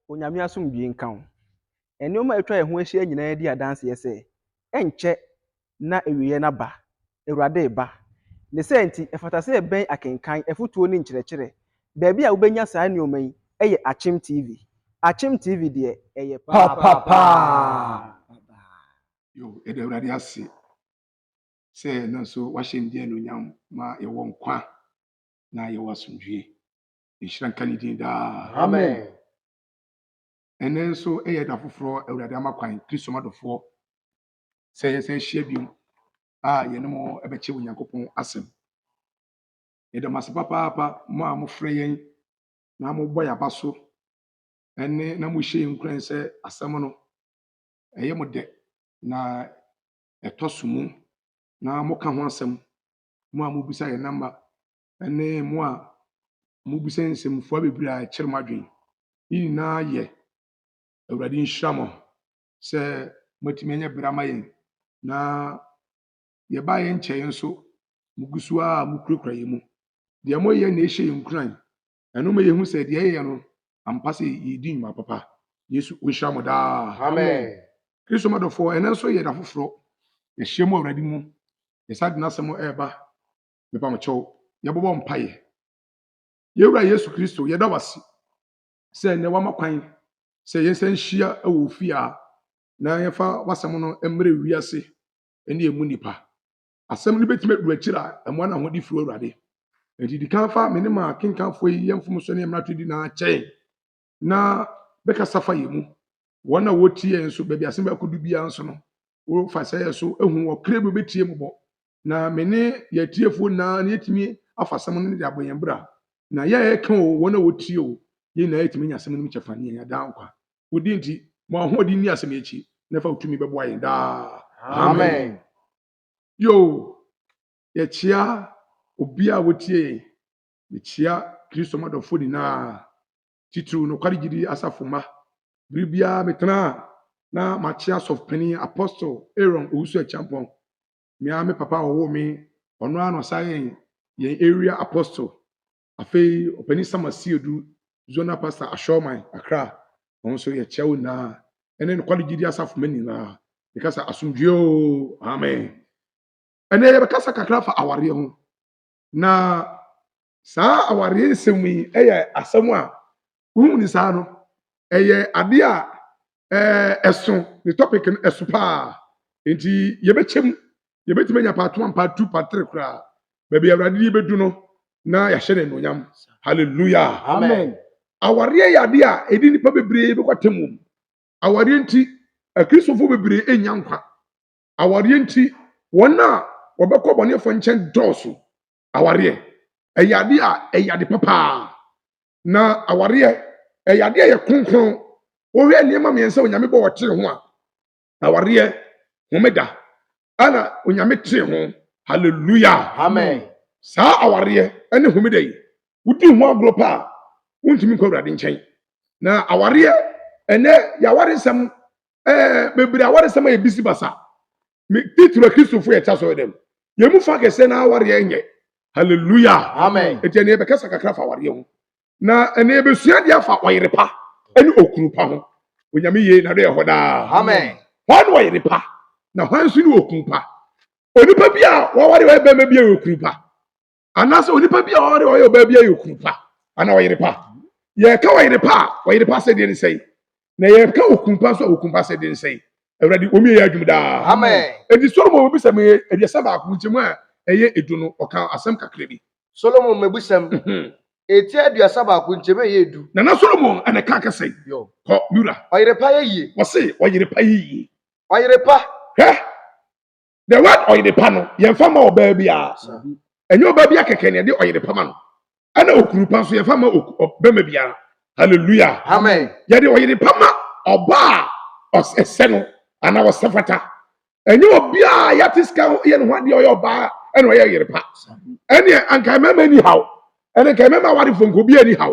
Onyame asomdwie nka wo. Nneɛma a atwa yɛn ho ahyia nyinaa di adanseɛ sɛ, ɛnkyɛ na awieɛ no aba, Awurade reba. Ne saa nti, ɛfata sɛ yɛbɛn akenkan, afotuo ne nkyerɛkyerɛ. Baabi a wobɛnya saa nneɛma yi yɛ Akyem TV. Akyem TV deɛ, ɛyɛ papaapa! Yo, yɛda Awurade ase sɛ ɛno nso wahyɛ ne din anuonyam ma yɛwɔ nkwa na yɛwɔ asomdwie. Nhyira nka ne din daa. Amen. Ɛnnɛ nso yɛ da foforɔ a Awurade ama kwan Kristo adɔfoɔ sɛ yɛsan ahyia bio a yɛne mo bɛkyɛ Onyankopɔn asɛm. Yɛda mo ase papaapa mo a mofrɛ yɛn na mobɔ yɛn aba so ɛne na mohyɛ yɛn nkuran sɛ asɛm no ɛyɛ mo dɛ na ɛtɔ so mu na moka ho asɛm mo a mobisa yɛn namba ne mo a mobisa nsɛmfua bebree a ɛkyere mo adwene yi nyinaa yɛ Awurade nhyira ma sɛ moatumi anya bere ama yɛn na yɛbaa yɛn nkyɛe nso mugu so a mukurakura yɛn mu. Deɛ moyɛ na ɛhyɛ yɛn nkuran. Ɛno ma yɛhu sɛ deɛ yɛyɛ no ampa sɛ yɛredi nnwuma papa. Yesu ɔnhyira mo daa. Amen. Kristo madɔfoɔ, ɛnɛ nso yɛ da foforɔ. Yɛahyia mu Awurade mu. Yɛsan de n'asɛm ɛreba. Mepa mo kyɛw, yɛbɛbɔ mpaeɛ. Yɛn Wura Yesu Kristo, yɛda wo ase sɛ nnɛ woama kwan sɛ yɛn nsa nhyia wɔ wo fie a na yɛmfa w'asɛm no mmerɛ wiase ne ɛmu nnipa. Asɛm no bɛtumi adu akyiri a ɛmmoa no ahode firi wo Awurade. Enti di kan fa me ne ma kenkanfoɔ yi yɛ mfomsoɔ ne yɛ mmarato di na kyɛn na bɛkasa fa yɛn mu. Wɔn a wɔtie yɛn nso, baabi asɛm bɛkɔ du biara nso no, wɔfa sɛ yɛ so hu wɔ kra bi wɔbɛtie mu bɔ. Na me ne yɛn atiefoɔ nyinaa na yɛtumi afa asɛm no de abɔ yɛn bra. Na yɛ a yɛka o, wɔn a wɔtie o, yɛn nyinaa yɛtumi nya asɛm no mu kyɛfa ne yɛnya daa nkwa. Wo din nti, ma w'ahoɔden nni asɛm yi akyi, na fa wo tumi bɛboa yɛn daa. Amen. Yoo, yɛkyea obiara a wɔtie yɛn. Mikyia Kristo mu adɔfo nyinaa, titiriw nokware gyidi asafo mma. Bere biara metena a, na makyia Sɔfopanyin Apostle Aaron Owusu-Acheampong, me ara me papa a ɔwoo me, ɔno ara na ɔsan yɛɛ yɛn Area Apostle. Afei Ɔpanyin Sam Asiedu, Zonal Pastor Ashawman, Accra, wɔn nso yɛkyia wɔn nyinaa. Ɛne nokware gyidi asafo mma nyinaa, meka sɛ asomdwoe oo! Amen. Ɛnnɛ yɛbɛkasa kakra afa awareɛ ho. Na saa awareɛ nsɛm yi yɛ asɛm a wohu ne saa no ɛyɛ adeɛ a ɛso ne topic no ɛso paa nti yɛbɛkyɛm yɛbɛtumi anya part one part two part three koraa baabi awurade yi bɛdu no na yɛahyɛ no anuonyam hallelujah amen awareɛ yɛ adeɛ a ɛde nnipa bebree bɛkɔ atam wom awareɛ nti akristofo bebree ɛnya nkwa awareɛ nti wɔn a wɔbɛkɔ abɔneɛfoɔ nkyɛn dɔɔso. Awareɛ, ɛyɛ adeɛ a ɛyɛ ade pa paa. Na awareɛ, ɛyɛ adeɛ a ɛyɛ kronkron. Wohwɛ nneɛma mmiɛnsa Onyame bɔ ɔtee ho a, awareɛ, homeda, ɛna Onyame tee ho. Hallelujah. Amen. Saa awareɛ ɛne homeda yi, wodi ho agorɔ pa a, wontumi nkɔ Awurade nkyɛn. Na awareɛ, ɛnɛ yɛaware nsɛm ɛɛ bebree awaresɛm ayɛ bisi basa me titiri kristofo yɛ kya sɔrɔ dɛm yɛn mu fa kɛse na awareɛ nyɛ hallelujah amen eti ɛnna yɛbɛkasa kakra fa awareɛ ho na ɛnna yɛbɛsua deɛ afa ɔyere pa ɛne okunu pa ho onyame yie na do yɛ hɔ daa amen wɔn ɔyere pa na wɔn nso ne okunu pa onipa bi a wɔaware ɔyɛ bɛrima bi a ɔyɛ okunu pa anaasɛ onipa bi a ɔware ɔyɛ ɔbaa bi ayɛ okunu pa anaa ɔyere pa yɛka ɔyere pa a ɔyere pa sɛdeɛ ne sɛe na yɛka okunu pa nso a okunu pa sɛdeɛ ne sɛe awurade wɔn yɛ adwuma daa ɛdi solomon wɔbi sɛ meyɛ aduasa baako nkyɛmu a ɛyɛ edu no ɔka asɛm kakra bi solomon mabusɛm ɛti mhm. aduasa baako nkyɛmu a ɛyɛ edu na na solomon ɛna ɛka kɛsɛ kɔ mura ɔyere pa yɛ yie wɔse ɔyere pa yɛ yie ɔyere pa hɛ the word ɔyere pa no yɛmfa ma ɔbaa biara ɛnyɛ ɔbaa biara kɛkɛ na yɛde ɔyere pa ma no ɛna okuru pa nso yɛmfa ma ɔbɛma biara hallelujah amen yɛde ɔyere pa ma ɔbaa ɔsɛ no anaa ɔsɛ fata ɛnyɛ obiara yɛate sika yɛ ne ho adeɛ ɔyɛ ɔbaa ɛna ɔyɛ ɔyere pa ɛne anka mmarima ni haw ɛne nka mmarima awarefo nka obiara ni haw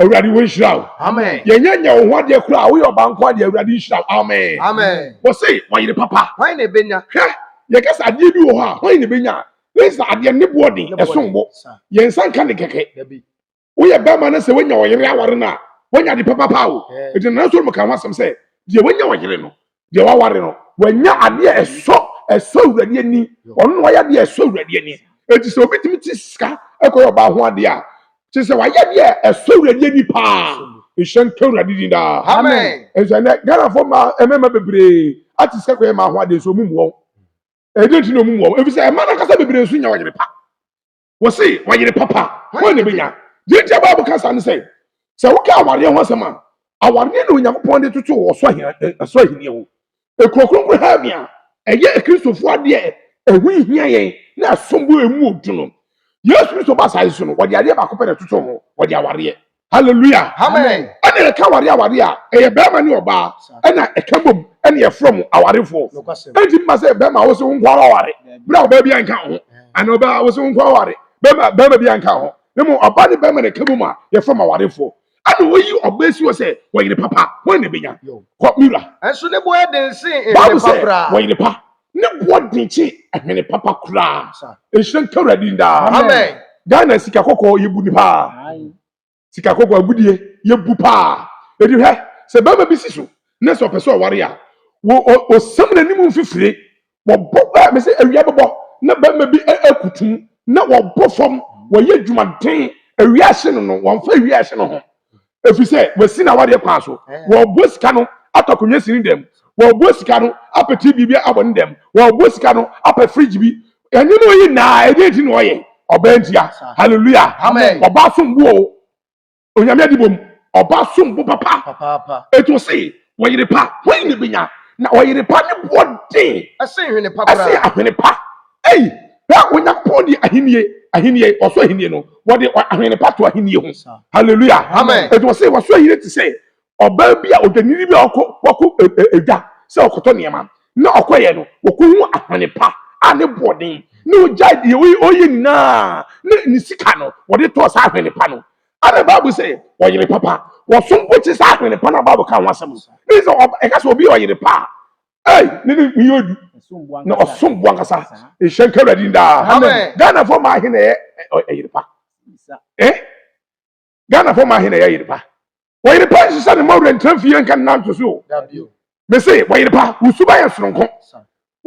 awurade wo nhyira wo amen yɛnyɛ nyɛ wo ho adeɛ koraa a woyɛ ɔba nko adeɛ awurade nhyira wo amen amen wɔse ɔyere papa hwan na ɛbɛnya hwɛ yɛka sɛ adeɛ bi wɔ hɔ a hwan na ɛbɛnya a na ɛsɛ adeɛ ne boɔ den ɛsom bo yɛn nsa nka ne kɛkɛ woyɛ bɛrima no sɛ woanya ɔyere aware no a woanya de papa paa o ɛti nana soro mu ka ho asɛm sɛ deɛ woanya ɔyere no deɛ waware no wanya adeɛ a ɛsɔ ɛsɔ awurade ani ɔno na wayɛ adeɛ a ɛsɔ awurade ani eti sɛ obi tumi ti sika ɛkɔ yɛ ɔbaa ho adeɛ a kyerɛ sɛ wayɛ adeɛ a ɛsɔ awurade ani paa nhyɛ nka awurade din daa amen nso ɛnɛ ghanafoɔ mmaa mmarima bebree ate sika kɔ yɛ mmaa ho adeɛ nso ɔmo mu wɔn ɛdi nti na ɔmo mu wɔn efisɛ mmaa no ankasa bebree nso nya ɔyere pa Wɔse ɔyere papa hwan na ebenya? Deɛ nti a Bible ka saa ne sɛ, sɛ woka awareɛ ho asɛm a, awareɛ na Onyankopɔn de totoo ɔsoro ahennie ho. Ekuro kronkron heaven a ɛyɛ Akristofoɔ adeɛ a ɛho hia yɛn na ɛsom bo a emu yɛ duru no, Yesu Kristo baa asaase so no, wɔde adeɛ baako pɛ na ɛtotoo ho, wɔde awareɛ. hallelujah amen ɛna ɛka aware aware a ɛyɛ bɛrima ne ɔbaa ɛna ɛka bom ɛna ɛfrɛ mo awarefoɔ ɛnti mma sɛ bɛrima wo sɛ wo nkwa aware berɛ a ɔbaa bi anka ho ɛna ɔbaa wo sɛ wo nkwa aware bɛrima bɛrima bi anka ho ne mu ɔbaa ne bɛrima na ɛka bom a yɛfrɛ mo awarefoɔ ɛna wɔyi ɔbaa si wɔ sɛ wɔyere papa wɔn na ɛbɛnya kɔ mira ɛnso ne bo ɛden sen ɛyere pa koraa wɔyere pa Ne boɔ den kye ɛhene papa koraa. Nhyira nka Awurade din daa. Amen. Ghana sika kɔkɔɔ yɛbu ni paa. Sika kɔkɔɔ agudie yɛbu paa. Edi hwɛ sɛ bɛrima bi si so na sɛ ɔpɛ sɛ ɔware a ɔsam n'anim mfifire wɔbɔ ɛ mese awia bɛbɔ na bɛrima bi akutum na wɔbɔ fam wɔyɛ adwumaden awia ahye no no wɔmfa awia ahye no ho ɛfiri sɛ wɔasi no awadeɛ kwan so wɔboa sika no atɔ akonnwa si ne dɛm wɔboa sika no apɛ tv bi abɔ ne dɛm wɔboa sika no apɛ fridge bi ɛnneɛma ɔyi naa ɛdeɛ nti na ɔyɛ ɔbaa ntia hallelujah ɔbaa som bo o onyame adibom ɔbaa som bo papa ɛti ɔse Ɔyere pa hwan na ebenya? Na ɔyere pa ne boɔ den. Ɛsen hwene pa koraa. Ɛsen ahwene pa. Ei, hwɛ Onyankopɔn de ahennie, ahennie, ɔsoro ahennie no, wɔde ahwene pa to ahennie ho. Hallelujah. Amen. Ɛti wɔsɛ wɔsoro ahennie te sɛ ɔbaa bi a ɔdwanini bi a ɔkɔ wɔkɔ ɛdwa sɛ ɔkɔtɔ nneɛma na ɔkɔyɛ no wɔkɔhu ahwene pa a ne boɔ den na ɔgyae deɛ ɔyɛ nyinaa na ne sika no wɔde tɔɔ saa ahwene pa no. Ana Bible sɛ ɔyere papa wɔsom bo te sɛ ahwene pa na Bible ka ho asɛm no. Ne sɛ ɛka sɛ obi yɛ ɔyere pa a, ei ne ne ne yɛ odu na ɔsom bo ankasa. Nhyɛ nka Awurade din daa. Ghanafoɔ mmaa he na ɛyɛ ɔyere pa. Eh? Ghanafoɔ mmaa he na ɛyɛ ɔyere pa. Ɔyere pa nhyehyɛ ne ma wura ntra fie nka ne nan to so o. mese wɔyere pa wo suba yɛ soronko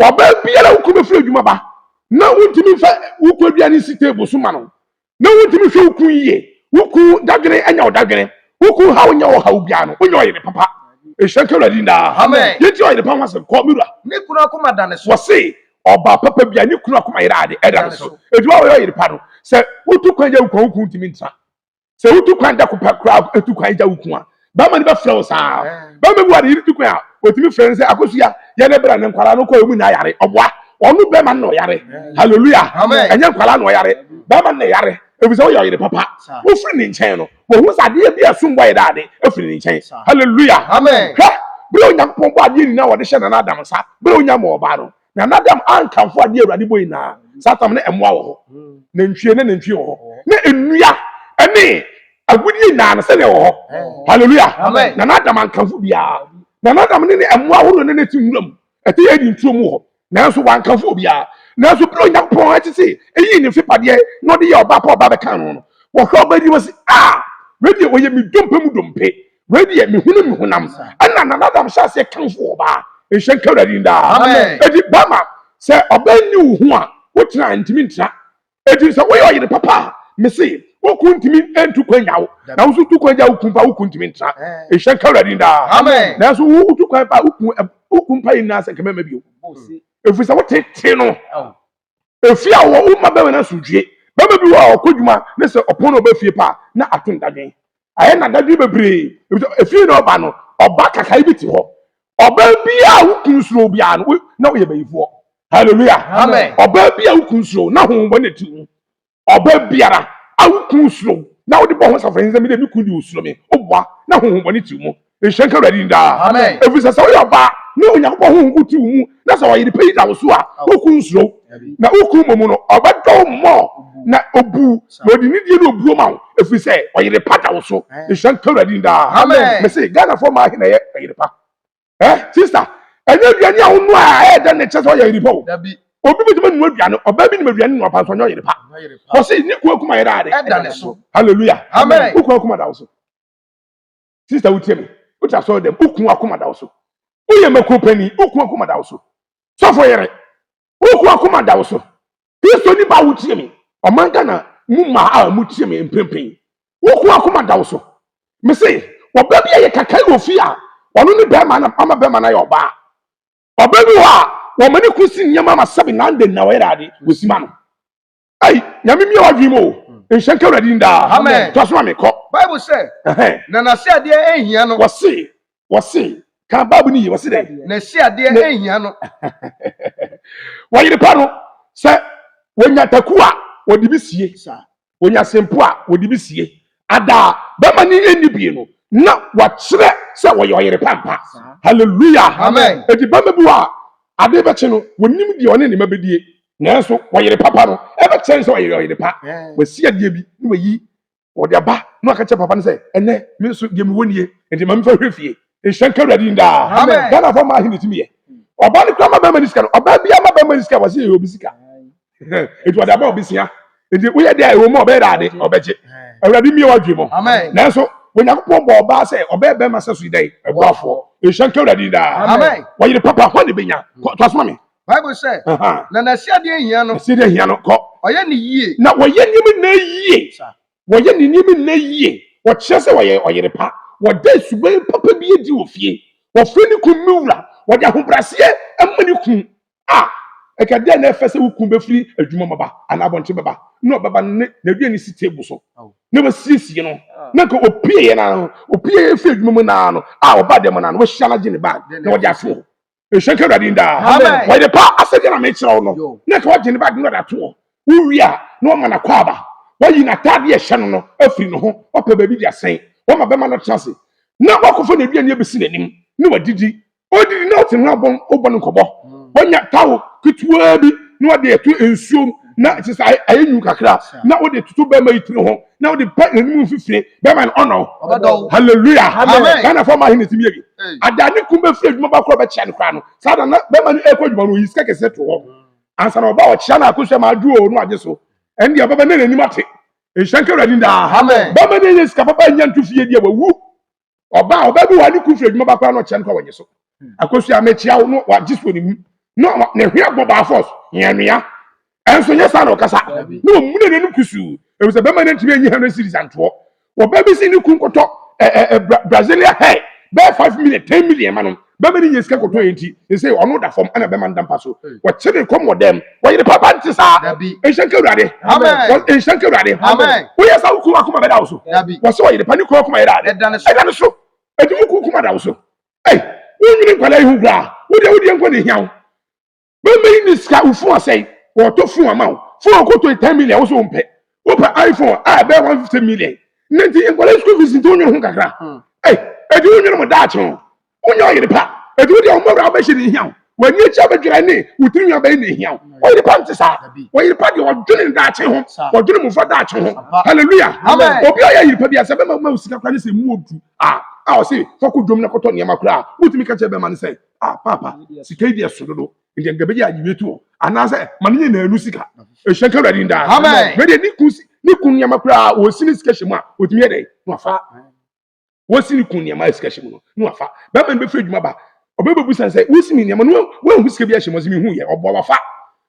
ɔbaa biara wokɔ bɛfiri adwuma ba na wontumi mfa wokɔ aduane nsi table so ma no na wontumi hwɛ wo ku yie wo ku dadwene anya wo dadwene wo ku ha wonyɛ wɔ ha wo biara no wonyɛ ɔyere papa ɛhyɛ nka awurade daa yɛti ɔyere pa ho asɛm kɔ mewura ne kunu akoma da ne so wɔse ɔbaa papa bia ne kunu akoma yere ade ɛda ne so ɛti wa wɔyɛ ɔyere pa no sɛ wotu kwan yɛ wo kwan wo ku ntumi ntra sɛ wotu kwan da ko pɛ koraa etu kwan gya wo kun a bɛrima no bɛfrɛ wo saa bɛrima bi wɔ ne yere tu kwan a otumi frɛ no sɛ akosua yɛ ne bra ne nkwadaa no kɔ emu na ayare ɔboa ɔno bɛrima no na ɔyare hallelujah ɛnyɛ nkwadaa na ɔyare bɛrima no na ɛyare efisɛ ɔyɛ ɔyere papa wofiri ne nkyɛn no wɔhu sɛ adeɛ bi a ɛsom bɔ yɛ dɛ ade efiri ne nkyɛn hallelujah hwɛ bere onyankopɔn bɔ adeɛ nyinaa wɔde hyɛ nana adam nsa bere onya ma ɔbaa no na n'adam ankamfo adeɛ awurade bɔ nyinaa saa tam no mmoa wɔ hɔ nantwie ne nantwie wɔ hɔ ne nnua ne agudeɛ nyinaa no sɛdeɛ wɔ hɔ halleluya na n'adam ankamfo biara na n'adam ne ne mmoa ahorow ne ne te nwura mu ɛte yɛ adi ntuo mu wɔ hɔ nanso wankamfo obiara nanso bere onyankopɔn akyi se eyi ne mfepadeɛ na ɔde yɛ ɔba pa ɔba bɛka no no wɔhwɛ ɔba anim ase a wei deɛ ɔyɛ me dompe mu dompe Wei deɛ mehunu me honam ɛna Nana Adam hyɛ aseɛ kamfo ɔbaa nhyɛ nka Awurade din daa Amen. enti bɛma sɛ ɔbaa nni wo ho a wotena a ntumi ntra enti sɛ woyɛ ɔyere papa a mese wo kunu ntumi ntu kwan nya wo na wo nso tu kwan gya wo kunu pa wo kunu ntumi ntra nhyɛ nka Awurade din daa Amen. nanso wo wotu kwan pa a wo kunu wo kunu pa yi nna sɛ nka mɛma bio ɛfiri sɛ wotetee no Efie a ɔwɔ, womma bɛrima no asomdwoe. Bɛrima bi wɔ hɔ a, ɔkɔ adwuma ne sɛ ɔpɔn na ɔba fie pɛ a, na ato no dadwen. Ayɛ no dadwen bebree, efisɛ efie na ɔba no, ɔba kakai bi te hɔ. Ɔbaa bi a wo kunu suro biara no, na ɔyɛ bayifoɔ. Hallelujah! Ɔbaa bi a wo kunu suro, na honhommɔne te wo mu. Ɔbaa biara a wo kunu suro wo na wode bɔ ho safohene sɛ, 'Me deɛ, me kunu deɛ ɔsuro me. Woboa na honhommɔne te wo mu. Nhyira nka Awurade din daa. Ɛfiri sɛ, sɛ woyɛ ɔbaa na Onyankopɔn honhom ko te wo mu na sɛ ɔyere pa yi da wo so a, wo kunu nsuro wo. Na wo kunu mmom no, ɔbɛdɔ wo more na ɔbu wo, na ɔde anidie ne obuo ma wo, ɛfiri sɛ ɔyere pa da wo so. Nhyira nka Awurade din daa. Mese, Ghanafoɔ mmaa he na ɛyɛ ɔyere pa. ɛ sista ɛnyɛ aduane a wonoa a ɛyɛ dɛ na ɛkyɛ sɛ ɔyɛ yere pa o obi bɛtumi nua aduane ɔbaa bi nim aduane nua pa nso ɔnyɛ ɔyere pa ɔse ne kua kuma yɛda ade ɛda ne so hallelujah amen wo kua kuma da wo so sista wotie me wote asɔre dɛm wo kua kuma da wo so woyɛ mako pani wo kua kuma da wo so sɔfo yere Woku akoma da wo so. Kristoni ba a wotie me, ɔman Ghana mu mmaa a motie me mprempren, woku akoma da wo so. Mese, ɔbaa bi a yɛ kakae wɔ fie a ɔno ne barima na ama barima no ayɛ ɔbaa. Ɔbaa bi wɔ hɔ a, wɔma ne kunu si nneɛma ma sɛbe na ande na ɔyɛ ade, wosima no. ayi nyame mia wadwin mu o nhyɛ nka awurade din daa amen to asoma me kɔ bible sɛ na n'ase adeɛ ɛnhia no wɔse wɔse ka bible no yi wɔse dɛ n'ase adeɛ ɛnhia no wɔyere pa no sɛ wɔnya taku a wɔde bi sie wɔnya sempo a wɔde bi sie Ada a bɛma ne nni bie no, na wɔakyerɛ sɛ wɔyɛ ɔyere pa ampa. Hallelujah! Amen! Enti bɛma bi wɔ hɔ a, ade bɛkye no, wɔnim deɛ ɔne ne mma bɛdie, nanso ɔyere papa no, ɛbɛkyerɛ no sɛ ɔyɛ ɔyere pa. Wasi adeɛ bi na wayi, ɔde aba na waka kyerɛ papa no sɛ, ɛnnɛ, me nso deɛ mewɔ nie, enti ma memfa nhwɛ fie. Nhyira nka Awurade din daa. Amen! Ghanafoɔ mmaa he na ɛtumi yɛ. Ɔbaa no koraa ma bɛma ne sika no, ɔbaa biara ma bɛma ne sika a, wɔse yɛyɛ obi sika. nti ɔde ama ɔbɛsia nti woyɛ deɛ ɛwɔ mu ɔbɛyɛ dade ɔbɛgye awurade mmie wadwe mu nanso onyankopɔn bɔ ɔbaa sɛ ɔbɛyɛ bɛrima sɛ so yi dɛn ɛboafoɔ nhyɛ nka awurade daa wɔyere papa hɔ ne bɛnya toasoma me bible sɛ na n'asiadeɛ hia no asiadeɛ hia no kɔ ɔyɛ ne yie na wɔyɛ nneɛma nyinaa yie wɔyɛ ne nneɛma nyinaa yie wɔkyerɛ sɛ wɔyɛ ɔyere pa wɔda suban papa bi adi wɔ fie wɔfrɛ ne kun me wura wɔde ahobraseɛ ma ne kun a ɛka dɛn na ɛfɛ sɛ wo kun bɛfiri adwuma bɛba anaa abɔnten bɛba na ɔbɛba no ne n'aduane ne si table so na wasiesie no na nka opieɛ no ano opieɛ firi adwuma mu naa no a ɔba dɛm naa no wahyia no agye ne bag na wɔde ato hɔ nhyɛ nka awurade daa wɔyɛ de pa asɛdeɛ na mekyerɛ wo no na nka wɔagye ne bag na wɔde ato hɔ wowie a na wɔma no akɔ aba wayi n'ataadeɛ ɛhyɛ no no afiri ne ho wapɛ baabi de asɛn wɔma bɛma no tena ase na wakɔfa n'aduane abɛsi n'anim na wadidi ɔdidi na ɔte no abɔn ɔbɔ no nkɔbɔ wɔnya tawo ketewa bi na wɔde ɛto nsuom na kyerɛ sɛ ayɛ nyu kakra na wɔde toto bɛrima yi tiri ho na wɔde pɛ n'anim mfifire bɛrima no ɔnɔ hallelujah ghana fɔ ma ahe na ɛtumi yɛ bi ada ne kum bɛfiri adwuma ba korɔ bɛkyia no koraa no saa da na bɛrima no ɛkɔ adwuma no ɔyi sika kɛseɛ to hɔ ansa na ɔba ɔkyia no akosua ma adwo ɔɔ no agye so ɛne deɛ ɔbɛbɛ ne n'anim ate nhyɛnka awurade daa bɛrima no ɛyɛ sika papa nya nto fie deɛ wawu ɔbaa ɔbaa bi wɔ hɔ ne kun firi adwuma ba koraa na ɔkyerɛ no kɔ wɔnyɛ so hmm. akosi a mekyia wo no wagye so ne mu na ne hwɛ bɔ baa fɔs hia nua ɛnso nyɛ saa na ɔkasa na ɔmuna n'anim kusuu ɛmu sɛ bɛma no ntumi anyi hɛn series antoɔ wɔbaa bi si ne kun kɔtɔ ɛɛ Brasilia hair bɛyɛ five million ten million ma no Bɛma no nya sika kɔtɔ yɛ nti, sesei ɔno da fam ɛna bɛma no da mpa so. Wɔkye no kɔm wɔ dɛm. Wɔyere papa nte saa. Nhyira nka Awurade. Nhyira nka Awurade. Woyɛ saa wo kunu akoma bɛda wo so. Wɔse ɔyere pa ne kunu akoma yɛ dɛ ade. Ɛda ne so. Enti wo kunu koma da wo so. Ei, wonwene nkwadaa yi ho koraa. Wo deɛ wo deɛ nko na ɛhia wo. Bɛma yi ne sika wo phone asɛe wɔtɔ phone ama wo phone ɔkɔ tɔ ten million wo so wo mpɛ wopɛ iPhone a ɛbɛyɛ one fifty million ne nti nkɔla school fees nti wonyere ho kakra hmm. ɛy ɛdi wonyere mo daakye ho wonya ɔyere pa ɛdi wodi a wɔn bɛwura abɛhyɛ ne hia wo wɔn ani akyi abɛdwira ne wo tiri nwa bɛyɛ ne hia wo ɔyere pa nti saa ɔyere pa deɛ ɔdwene ne daakye ho ɔdwene mo fa daakye ho hallelujah obi a ɔyɛ yere pa bi asɛ bɛma ma wo sika kora ne sɛ mu odu a a ɔse fɔko dwom na kɔtɔ nneɛma kora a wotumi ka kyerɛ bɛma ne sɛ a paapa sika yi deɛ so dodo nti nka bɛgye agye wetu hɔ anaasɛ ma ne nyinaa nu sika ɛhyɛ nka awurade daa wei deɛ ne kun ne kun nneɛma koraa wɔsi ne sika hyɛ mu a wɔtumi yɛ dɛn na wafa wɔsi ne kun nneɛma a sika hyɛ mu no na wafa bɛma no bɛfiri adwuma ba ɔbɛbɛbu san sɛ wosi me nneɛma no woahu sika bi ahyɛ mu ɔsɛ mehu yɛ ɔboa wafa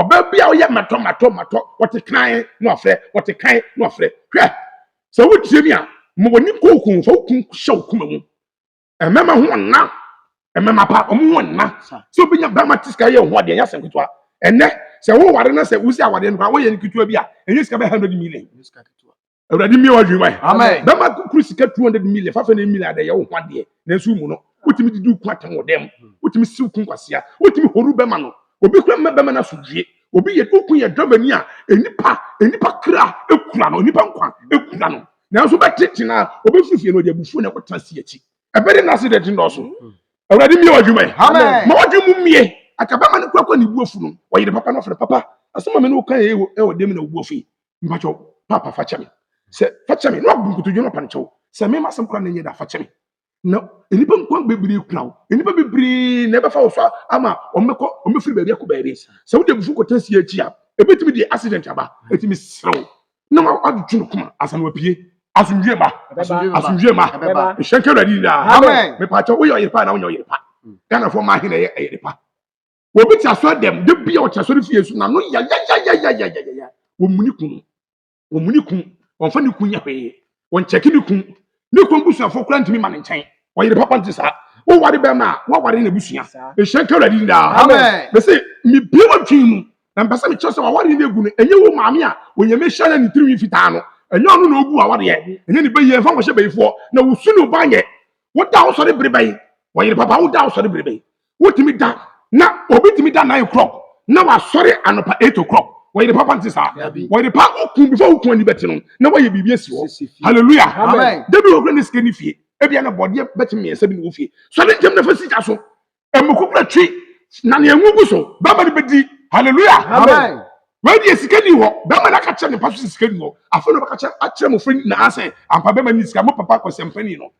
Ɔbaa bi a ɔyɛ matɔ matɔ matɔ, ɔte kan na wafrɛ, ɔte kan na wafrɛ. Hwɛ, sɛ wotie me a, ma w'ani nkɔ wo kunu, fa wo kunu hyɛ wo koma mu. Mmarima ho nna, mmarima pa, wɔn ho nna. Sɛ obi nya barima te sika yɛ ho adeɛ, ɛnyɛ asɛm ketewa. Ɛnɛ, sɛ woware na sɛ wosi awadeɛ no koraa, woyɛ no ketewa bi a, ɛnyɛ sika bɛyɛ hundred million. awurade mmie wadwene wae Amen. bɛma kukuru sika 200 million fafa ne million adɛ yɛ wo ho adeɛ nanso mu no wotumi didi ku atam wɔ dɛm wotumi siw ku nkwasea wotumi horu bɛma no obi kura mma bɛma no asodwie obi yɛ oku yɛ dramani a nnipa nnipa kra ekura no nnipa nkwa ekura no nanso bɛtete na obi firi fie no ɔde abufuo na ɛkɔtena si akyi ɛbɛde na ase de ti nnɔɔso awurade mmie wadwuma yi Amen. ma wadwene mu mmie aka bɛma no kurakura ne buafu no ɔyere papa no ɔfrɛ papa asɛm a me ne wo ka yɛ wɔ dɛm na wo buafu yi mpakyɛw papa fa kyɛ me sɛ fa kyɛ me na wabu nkotodwe na ɔpa no kyɛw sɛ me masɛm kora na nyɛ da fa kyɛ me na nnipa nkwa bebree kura wo nnipa bebree na ɛbɛfa wo so ama ɔmmɛkɔ ɔmmɛfiri baabi akɔ baabi sɛ wode abufu kɔtena sie akyi a ɛbɛtumi de accident aba ɛtumi serɛ wo na wadwetwe no koma asa na wapue asomdwie ma asomdwie ma ɛhyɛ nka awurade nyinaa mepaakyɛ woyɛ ɔyere pa na wonyɛ ɔyere pa ghanafoɔ ma ahe na ɛyɛ ɛyere pa obi te asɔre dɛm da bi a ɔte asɔre fie so na no yayayayayayaya wɔmuni kun wɔmuni kun wɔmfa ne kun nyɛ hwee wɔnkyɛke ne kun ne kun busuafoɔ kora ntumi ma ne nkyɛn ɔyere papa nte saa woware bɛrima a woaware na busua ɛhyɛ nka awurade ni daa mɛ sɛ mebie wɔdwen mu na mpɛ sɛ mekyerɛ sɛ waware no agu no ɛnyɛ wo maame a onyame hyɛ na ne tirinwi fitaa no ɛnyɛ ɔno na ɔgu awareɛ ɛnyɛ ne bɛyie mfa nkɔhyɛ bayifoɔ na wosu ne woba nyɛ woda wosɔre bere bɛn ɔyere papa woda wosɔre bere bɛn wotumi da na obi tumi da nine o'clock na wasɔre anɔpa eight o'clock wɔyɛ de papa nti saa wɔyɛ de pa okun before okun ani bɛte no na wɔyɛ biribi esi hɔ hallelujah dabi wɔ kura ne sika ne fie ebi ana bɔdeɛ bɛte mmiɛnsa bi ne wo fie so ne ntɛm na fa sika so emu kukura twi na ne enwu gu so bɛma ne bɛdi hallelujah amen wɔyɛ deɛ sika ni hɔ bɛma n'aka kyerɛ ne mpa so sika ni hɔ afei na ɔbɛka kyerɛ akyerɛ mo fɛ nyinaa sɛ ampa bɛma ni sika mo papa kɔsɛmpani no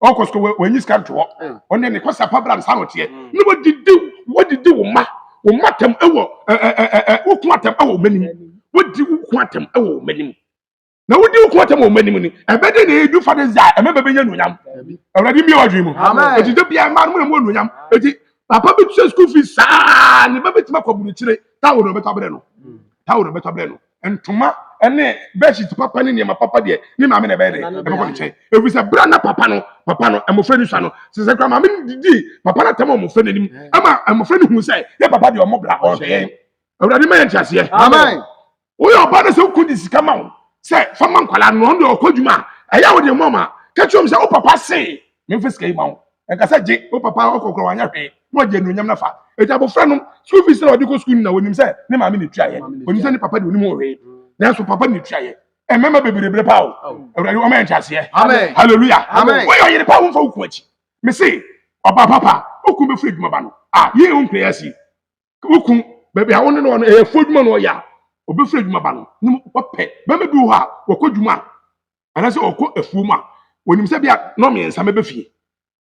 ɔkɔ sukuu wɔ wɔnyi sika nto hɔ ɔne ne kɔsa pa bra nsa na ɔteɛ na wɔdidi wɔdidi wo ma wo ma tam ɛwɔ ɛɛ ɛɛ ɛɛ wo ko atam ɛwɔ wɔn anim wɔdi wo ko atam ɛwɔ wɔn anim na wodi wo ko atam wɔ wɔn anim ni ɛbɛde na edu fa de dza ɛmɛ bɛbɛ nyɛ nuonyam ɛwurade mbie wadwi mu eti de bia mmaa no mu na mu wɔ nuonyam eti papa bi tua sukuu fi saa ne ba bi tuma kɔ burukyire tawo na ɔbɛtɔ abirɛ no tawo na ɔbɛtɔ abirɛ no. ntoma ne bɛhyit papa ne nneɛma papa deɛ ne maame na ɛbɛyɛ dɛ ɛbɛkɔ ne nkyɛn ɛfiri sɛ berɛ na papa no papa no mmɔfra no sua no sɛ sɛ kora maame no didii papa no atam a mmɔfra no anim ama mmɔfra no hu sɛ yɛ papa deɛ ɔmmɔ bra ɔhwɛ yɛn awurade ma yɛ nteaseɛ amen woyɛ ɔbaa no sɛ wokɔ de sika ma wo sɛ fa ma nkwalaa no ɔno deɛ ɔkɔ adwuma a ɛyɛ a wode mmɔ ma ka kyerɛ m sɛ wo papa se memfa sika yi ma wo ɛnka sɛ gye wo papa ɔkɔkorɔ wanyɛ hwee na ɔgye anuonyam no fa ɛti abɔfra no school fees na ɔde kɔ school na wɔnim sɛ ne maame na ɛtuaeɛ ɔnim sɛ ne papa de ɔnim ho hwee nanso papa na ɛtuaeɛ ɛmɛma bebrebe pa o awurade ɔma yɛ nteaseɛ hallelujah woyɛ ɔyere pa womfa wo ku akyi me se ɔba papa wokum bɛfiri adwuma ba no a yei wo mpɛ asi wokun baabi a wo ne no wɔ no ɛyɛ fo adwuma na ɔyɛ a ɔbɛfiri adwuma ba no ne mu ɔpɛ bɛma bi wɔ hɔ a wɔkɔ adwuma a anaasɛ ɔkɔ afuom a wɔnim sɛ bia nɔ mmiɛnsa mɛbɛ fie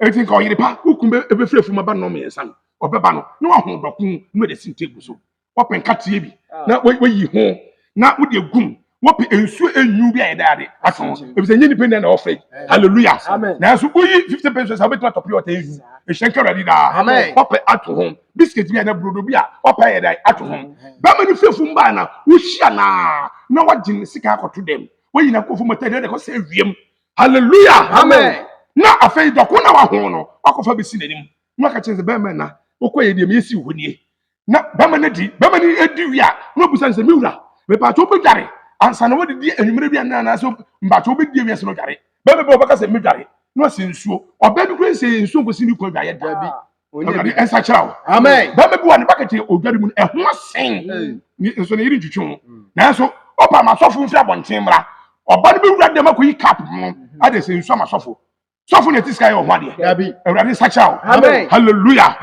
ɛti nka ɔyere pa wokun bɛfiri afuom aba nɔ mmiɛnsa no ɔbɛba no na waho dɔko na wɔde si nteegu so wɔpɛ nkateɛ bi na wɔyi ho na wode agum wɔpɛ nsuo enyu bi a yɛda ade aso ho ebi sɛ nye nipa nyinaa na ɔfɛ hallelujah nanso woyi fifty pesos a wobɛtumi atɔ pure water enyu ehyɛn kɛrɛ adi daa wɔpɛ ato ho biscuit bi a na burodo bi a wɔpɛ ayɛ dan ato ho bɛma no fiefu mbaa na wohyia naa na wɔgye ne sika akɔto dɛm wɔyi na kɔfu mɔtɛ deɛ ɛkɔ sɛ ewiem hallelujah na afei dɔko na waho no wakɔfa bɛsi n'anim na waka kyerɛ sɛ bɛrima na wokɔ yɛ deɛ meyɛ si hɔ nie na bɛrima no adi bɛrima no adi wie a na obisa no sɛ me wura mepaatwo wobɛdware ansa na wadidi anwummerɛ bi anaa anaasɛ mpaatwo wobɛdi awie sɛ no dware bɛrima bi wɔbɛka sɛ medware na ɔsɛ nsuo ɔbaa bi kura nsɛ nsuo nkɔsi ne kwan dwaeɛ daa bi awurade ɛnsa kyerɛ wo bɛrima bi wɔ ne bakɛte odware mu no ɛho asen nso ne yere ntwitwi ho nanso ɔpa amasɔfo mfiri abɔnten mmra ɔba no bɛwura dɛm akɔyi kap mu ade sɛ nsuo amasɔfo sɔfo na ɛte sika yɛ ɔho adeɛ awurade nsakyera wo halleluya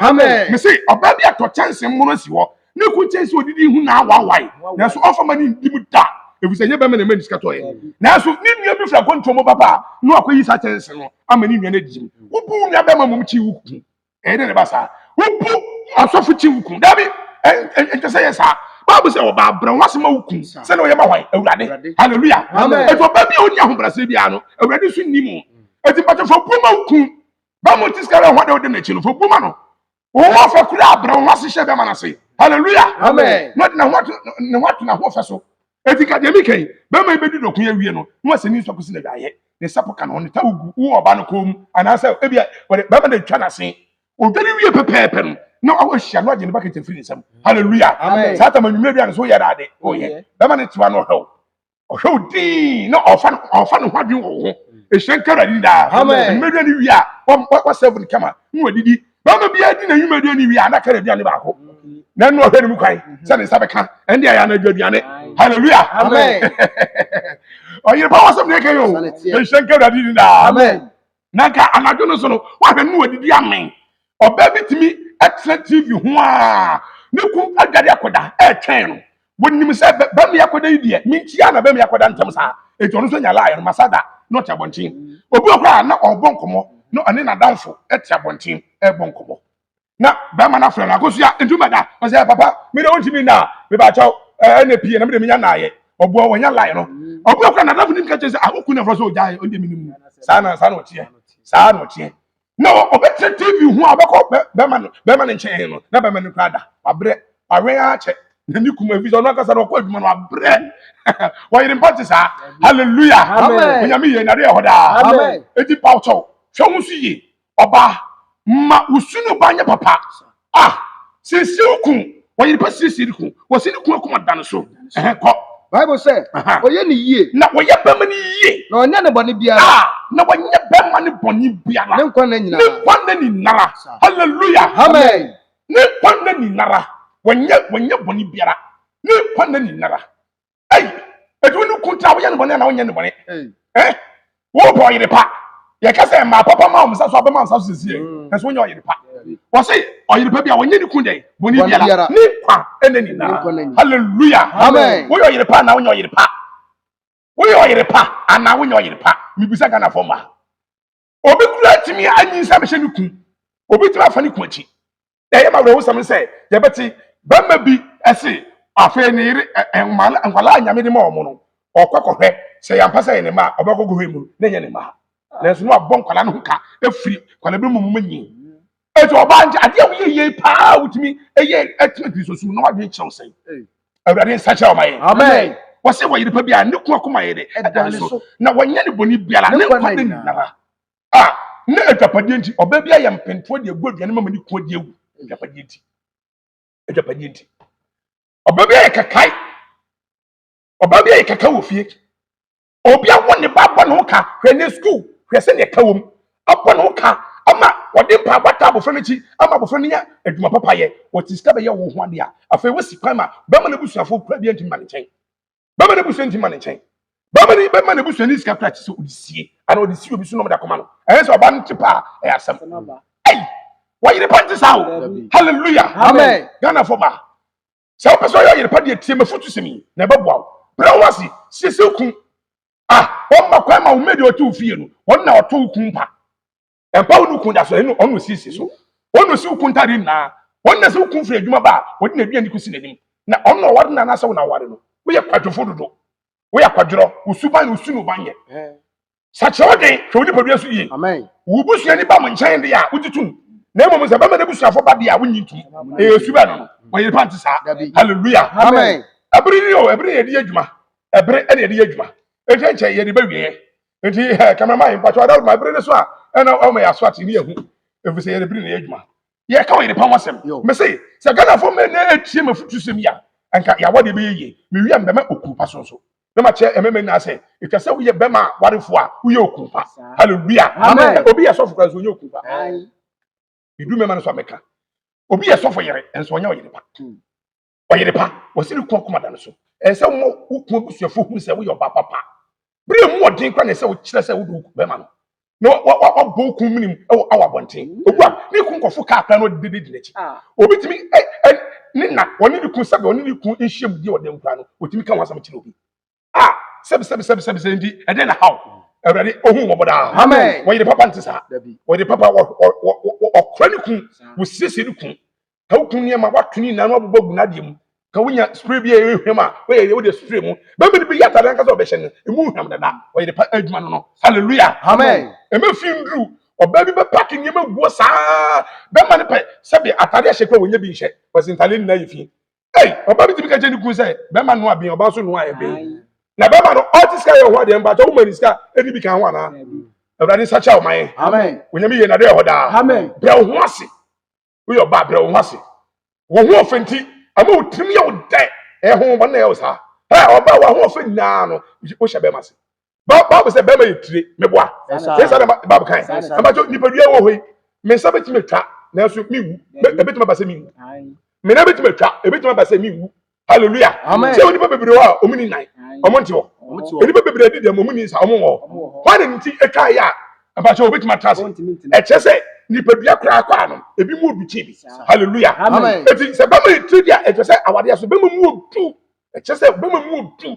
me se ɔbaa bi atɔ kyɛnse mmono asi hɔ ne ko kyɛnse ɔdidi hu na awawae nanso ɔfa ma ne ndi mu da ɛfiri sɛ nyɛ bɛma na ɛma ne sika tɔeɛ nanso ne nua bi firi akwantuo mu baba a na wakɔyi saa kyɛnse no ama ne nua no adi mu wobu nua bɛma mmom kyi wo ku ɛyɛ dɛ ne ba saa wobu asɔfo kyi wo kun dabi ɛnkyɛ sɛ yɛ saa baabu sɛ ɔba abrɛ ho ase ma wo kun sɛnea ɔyɛ ma hwan awurade hallelujah ɛti ɔba bi a ɔni ahobrɛaseɛ biara no awurade nso nni mu ɛti mpatɛ fo bu ma wo kun ba mo ti sika bɛ ho ade wode n'akyi no fo bu ma no wɔn afɛ kura abrɛ ho ase hyɛ bɛma no ase hallelujah na ɔde ne ho ato ne ho ato n'ahoɔfɛ so Enti ka deɛ meka yi, bɛrima yi bɛdi dɔko yi awie no, na wasɛ ne nsu akɔsi n'awaeɛ, ne sapo ka ne ho, ne towel gu wo ɔbaa no kɔn mu, anaasɛ ebia wɔde bɛrima no atwa n'ase. Ɔdwane wie pɛpɛɛpɛ no, na wahyia no agye ne bakɛt afiri ne nsam. Haleluya! Amen. Saa tam anwummerɛ bi a ne so yɛ dade, ɔyɛ. Bɛrima no tewa no ɔhwɛ wo. Ɔhwɛ wo dinn na ɔfa no ɔfa ne ho adwene wɔ wo ho. Ɛhyira nka Awurade ni daa. Amen. Anwummerɛ aduane wie a, wa- wa- wasɛvo no kama na wadidi bɛrima biara di n'anwumadi ani wie a na kɛrɛ aduane baako na ɛno ɔhwɛ ne mu kwan sɛ ne nsa bɛka ɛnde ayɛ anadwo aduane hallelujah ɔyere pa wɔsɛm ne ɛka yi o ɛnhyɛ nka awurade ni daa na nka anadwo no so no wahwɛ no wadidi amen ɔbaa bi tumi ɛtena tv ho a ne ku adwade akɔda ɛtwɛn no wɔnim sɛ bɛmi akɔda yi deɛ menkyia na bɛmi akɔda ntɛm saa enti ɔno nso nya laayɛ no masa da na ɔte abɔnten obi wɔ koraa na ɔrebɔ nkɔmmɔ na ɔne n'adamfo te abɔnten ɛrebɔ nkɔmmɔ na bɛrima no afrɛ no akosua nti wobɛda ɔsɛ papa me de wontumi nna a mebakyɛw ɛna pie na mede menya naayɛ ɔboɔ wɔnya laayɛ no ɔboɔ koraa n'adamfo nim ka kyerɛ sɛ ahoku na frɛ sɛ ɔgyae ɔde menim saa na saa na ɔteɛ saa na ɔteɛ na ɔbɛtena tv ho a ɔbɛkɔ bɛma no bɛma no nkyɛn no na bɛma no kura da wabrɛ awɛn akyɛ na ne kuma ebi sɛ ɔno ankasa na ɔkɔ adwuma no wabrɛ wɔyere mpa te saa hallelujah onyame yɛ nade ɛhɔ daa eti pawkyɛw hwɛ ho so yie ɔbaa ma wosunu ba nyɛ papa Ah! Siesie wo kun. Wɔyere pa siesie ne kun. Wɔsi ne kun akoma da ne so. Ɛhɛ kɔ. Bible sɛ, Aha. Ɔyɛ ne yie. Na ɔyɛ bɛrima no yie. Na ɔnyɛ ne bɔne biara. Ah! Na wɔnyɛ bɛrima no bɔne biara. Ne nkwa nna nyinaa. Ne nkwa nna nyinara. Hallelujah. Amen. Ne nkwa nna nyinara. Wɔnyɛ wɔnyɛ bɔne biara. Ne nkwa nna nyinara. ɛyi ɛdi wo ne kun tena woyɛ ne bɔne anaa wonyɛ ne bɔne ɛ wobɔ ɔyere pa yɛka sɛ mmaa papa ma wɔn nsa so abɛma nsa so sisi yɛ ɛso wonyɛ ɔyere pa wɔsi ɔyere pa bi a wɔnyɛ ne kun dɛ bɔne Bɔne biara biara. ne nkwa ɛna Ne nkwa na nyinaa nyinaa. hallelujah Amen. woyɛ ɔyere pa anaa wonyɛ ɔyere pa woyɛ ɔyere pa anaa wonyɛ ɔyere pa mibisa ghanafoɔ ma obi kura atumi anyinsɛn bɛhyɛ ne kun obi tumi afa ne kun akyi na ɛyɛ ma awerɛhosɛm sɛ yɛbɛte bɛrima bi ɛse afei ne yere nkwalaa nyame de ma wɔn no ɔkɔ kɔhwɛ sɛ yɛampa sɛ yɛ ne mma ɔbɛkɔ kɔhwɛ mu na ɛnyɛ ne mma nanso no abɔ nkwalaa no ho ka afiri nkwalaa bi mu mu nyi Eti ɔbaa nti adeɛ a woyɛ yie paa a wotumi yɛ ɛtena Kristo som na wadwene kyerɛw sɛn. Awurade nsa kyerɛ ɔma yɛn. Amen. Wɔsɛ wɔyere pa biara ne ko akoma yɛ dɛ ɛda ne so na wɔnyɛ ne bɔne biara ne nkwa nna nyinara a ne adwapadeɛ nti ɔbaa biara yɛ mpentoɔ de agu aduane ma ma ne kunu de awu adwapadeɛ nti adwapadeɛ nti ɔbaa biara yɛ kakae ɔbaa biara yɛ kakae wɔ fie Obi awo ne ba bɔ ne ho ka hwɛ ne sukuu hwɛ sɛdeɛ ɛka wɔ mu abɔ ne ho ka ama wɔde mpaebɔ ata abɔfra no akyi ama abɔfra no nya adwuma papa yɛ wɔte sika bɛyɛ wo ho adeɛ a afei wosi kwan ma bɛrima no abusuafoɔ kura biara ntumi ma ne nkyɛn bɛrima no abusua ntumi ma ne nkyɛn bɛrima no bɛrima no abusua ne sika kura kyi sɛ ɔde sie ana ɔde sie obi so nom de akoma no ɛyɛ sɛ ɔba no te paa ɛyɛ asɛm ɛyi wɔyere pa nte saa o hallelujah amen ghana fo ba sɛ wopɛ sɛ ɔyɛ ɔyere pa deɛ tie m'afotusɛm yi na ɛbɛboa wo brɛ wo ase siesie wo kun a ɔmma kwan ma wo mmɛdi ɔte wo fie no ɔno na ɔto wo kun mpa ɛmpa wo ne wo kun da so ɛno ɔno siesie so ɔno si wo kun ntade nyinaa ɔno na sɛ wo kun firi adwuma ba a ɔde n'aduane kɔsi n'anim na ɔno na ɔware no anaasɛ wo na ware no woyɛ kwadwofo dodo woyɛ akwadworɔ wo suban na wosu no ban yɛ sakyerɛ wo den hwɛ wo nipadua so yie wo busuani ba mo nkyɛn de a wogye tom na mmom sɛ bɛma n'abusuafo ba de a wonyi tom ɛyɛ su bɛɛ no no wɔyere pa nte saa halleluya ɛbere ni o ɛbere yɛde yɛ adwuma ɛbere ɛne yɛde yɛ adwuma ɛnkyɛ nkyɛ yɛde bɛwieɛ nti eh, cameraman yi mpakyɛ ɔda ma ɛbere ne so a ɛna ɔma yɛ aso ate ne yɛhu ɛfiri sɛ yɛde bere ne yɛ adwuma yɛka ɔyere pa ho asɛm mese sɛ ghanafoɔ mmerɛ na ɛtie mafotusɛm yi a ɛnka yɛawɔ deɛ bɛyɛ yie mewia mbɛma okurupa so nso na ma kyerɛ ɛmɛmɛ nyinaa sɛ ɛtwa sɛ woyɛ bɛma a warefo a woyɛ okun pa hallelujah amen obi yɛ sɔfo kora nso onyɛ okun pa medu mɛma no so amɛka obi yɛ sɔfo yere nso ɔnyɛ ɔyere pa ɔyere pa wɔsi ne kɔn kɔma da no so ɛsɛ sɛ wɔn wokun abusuafo hu sɛ woyɛ ɔba papa bere mu ɔden kora na ɛsɛ sɛ wokyerɛ sɛ wode bɛma no na wabɔ okun minim wɔ awa abɔnten ogu a ne kun kɔfo kaa kora na ɔde dede di n'akyi ah. obi tumi ɛ ɛ ne na ɔne ne kun sɛbi ɔne ne kun nhyia mu di ɔdan kura no otumi ka wɔn asɛm kyerɛ obi a ah, sɛbi sɛbi sɛbi sɛbi sɛbi nti ɛdɛn na haw awurade ohun wɔbɔ daa amen wɔyɛ de papa nti saa wɔyɛ de papa wɔ wɔ wɔ ɔkura ne kun wɔ siesie ne kun ka wo kun nneɛma wato ne nyinaa na wabobɔ agu n'adeɛ mu ka wonya spray bi a ɛyɛ hwam a woyɛ wode spray mu bɛma de bɛyi atade ankasa ɔbɛhyɛ no ɛmu hwam dada ɔyɛ de pa adwuma no no halleluya amen ɛma fi nduru ɔbaa bi bɛpake nneɛma guo saa bɛma no pɛ sɛbe atade ahyɛ kɔ a wɔnya bi nhyɛ wɔsi ntade nyinaa yɛ fie ei ɔbaa bi tumi ka kyɛ ne kun sɛ bɛma no aben ɔbaa so no ayɛ ben na bɛma no ɔte sika yɛ ɔhɔ adeɛ mpa kyɛ woma ne sika ɛni bi ka ho anaa awurade nsa kyɛ ɔman amen onyame yɛ nadɛ ɛhɔ daa amen brɛ wo ho ase woyɛ ɔbaa brɛ wo ho ase wo ho ɔfɛ nti ama wo tirim yɛ wo dɛ ɛho wɔn na ɛyɛ wo saa ɛ ɔbaa wo ho ɔfɛ nyinaa no wohyɛ bɛrima ase baabu sɛ bɛrima yɛ tire meboa sɛ saa na baabu kan ɛmɛtɔ nipadua wɔ hɔ yi me nsa bɛtumi atwa nanso mewu ɛbɛtumi aba sɛ mewu me nan bɛtumi atwa ɛbɛtumi aba sɛ mewu hallelujah sɛ onipa bebree hɔ a ɔmo ni nan ɔmo nte hɔ onipa bebree di dɛm ɔmo ni nsa ɔmo wɔ hɔ wɔn nti atwa yɛ a abakyɛ obetumi atra ase ɛkyɛ sɛ nipadua koraa kɔ ano ebi mu odu kyi bi hallelujah eti sɛ bɛma etiri di a ɛkyɛ sɛ awadeɛ so bɛma mu odu ɛkyɛ sɛ bɛma mu odu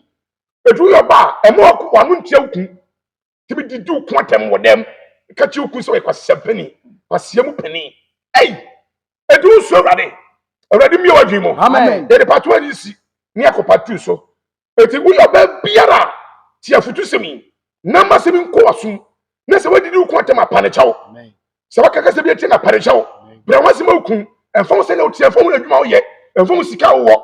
etu yɛ ɔbaa ɛmo ɔko wɔn ntia okun nti mi didi wo ko atɛm wɔ dɛm ɛka kyi wo kun sɛ ɔyɛ kwasia panyin kwasia mu panyin ɛyi ɛdi wo so awurade awurade mi wɔ adwene mu amen yɛde pato ani si ne akɔpa tu so eti woyɛ ɔbɛn biara ti afutu sɛm yi na ma sɛm nkɔ wasum na sɛ wadidi wo ko atɛm apa ne kyɛw sɛ waka kasa bi atia na parekyɛ wo brɛ ho asɛm awu kun ɛmfa wo sɛ na wotia ɛmfa wo adwuma woyɛ ɛmfa wo sika wowɔ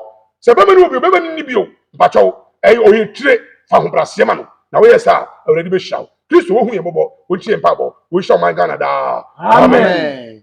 sɛ bɛma ne wɔ bio bɛma ne nni bio mpakyɛ wo ɛyɛ ɔyɛ tire fa ahobrɛaseɛ ma no na woyɛ saa awurade bɛhyira wo kristo wohu yɛ mmɔbɔ wontie mpaebɔ wonhyira ɔman ghana daa amen